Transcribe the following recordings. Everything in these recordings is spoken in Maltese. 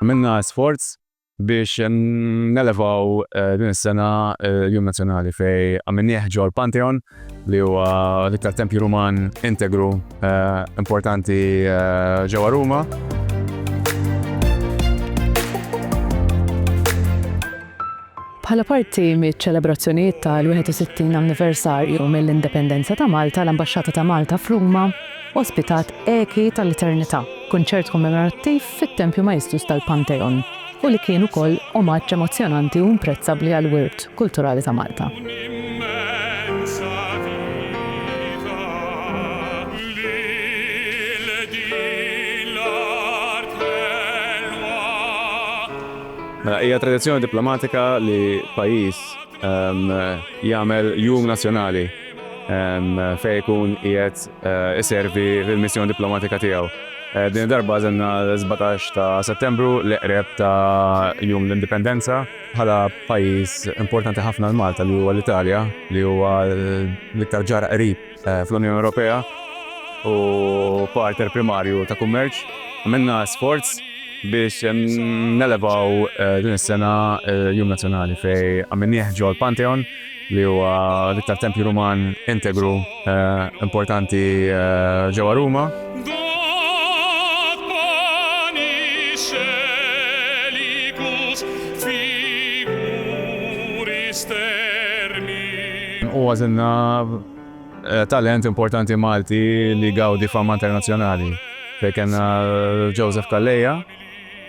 Għamilna sforz biex nelevaw din is-sena l-Jum Nazzjonali fejn għamilnieh ġo l-Pantheon li huwa l-iktar tempju Ruman integru importanti ġewwa Ruma. Bħala parti miċ-ċelebrazzjonijiet tal-61 anniversarju mill-Indipendenza ta' Malta, l-Ambaxxata ta' Malta f'Ruma ospitat Eki tal-Eternità, kunċert kommemorattiv fit-Tempju Maestus tal-Pantheon u li kien ukoll omaġġ emozzjonanti u imprezzabbli għall-wirt kulturali ta' Malta. Mela, hija tradizzjoni diplomatika li pajjiż jagħmel jum nazzjonali fejn ikun qiegħed iservi fil-missjoni diplomatika tiegħu. Din id-darba għażilna s-sbatax ta' Settembru, l-iqreb ta' Jum l-Indipendenza, bħala pajjiż importanti ħafna għal Malta li huwa l-Italja, li huwa l-iktar ġar qrib. fl-Unjoni Ewropea u partner primarju ta' kummerċ. Għamilna sforz biex nelevaw din is-sena l-Jum Nazzjonali fejn għamilnieh ġol Pantheon li huwa l-iktar tempju Ruman integru importanti ġewwa Ruma. U għażilna talent importanti Malti li jgawdi fama internazzjonali, fejn kellna Joseph Calleja,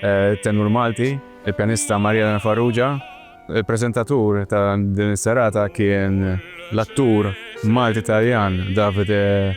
it-tenur Malti, il-pjanista Maria Elena Farrugia. Il-preżentatur ta' din is-serata kien l-attur Malti-Taljan Davide.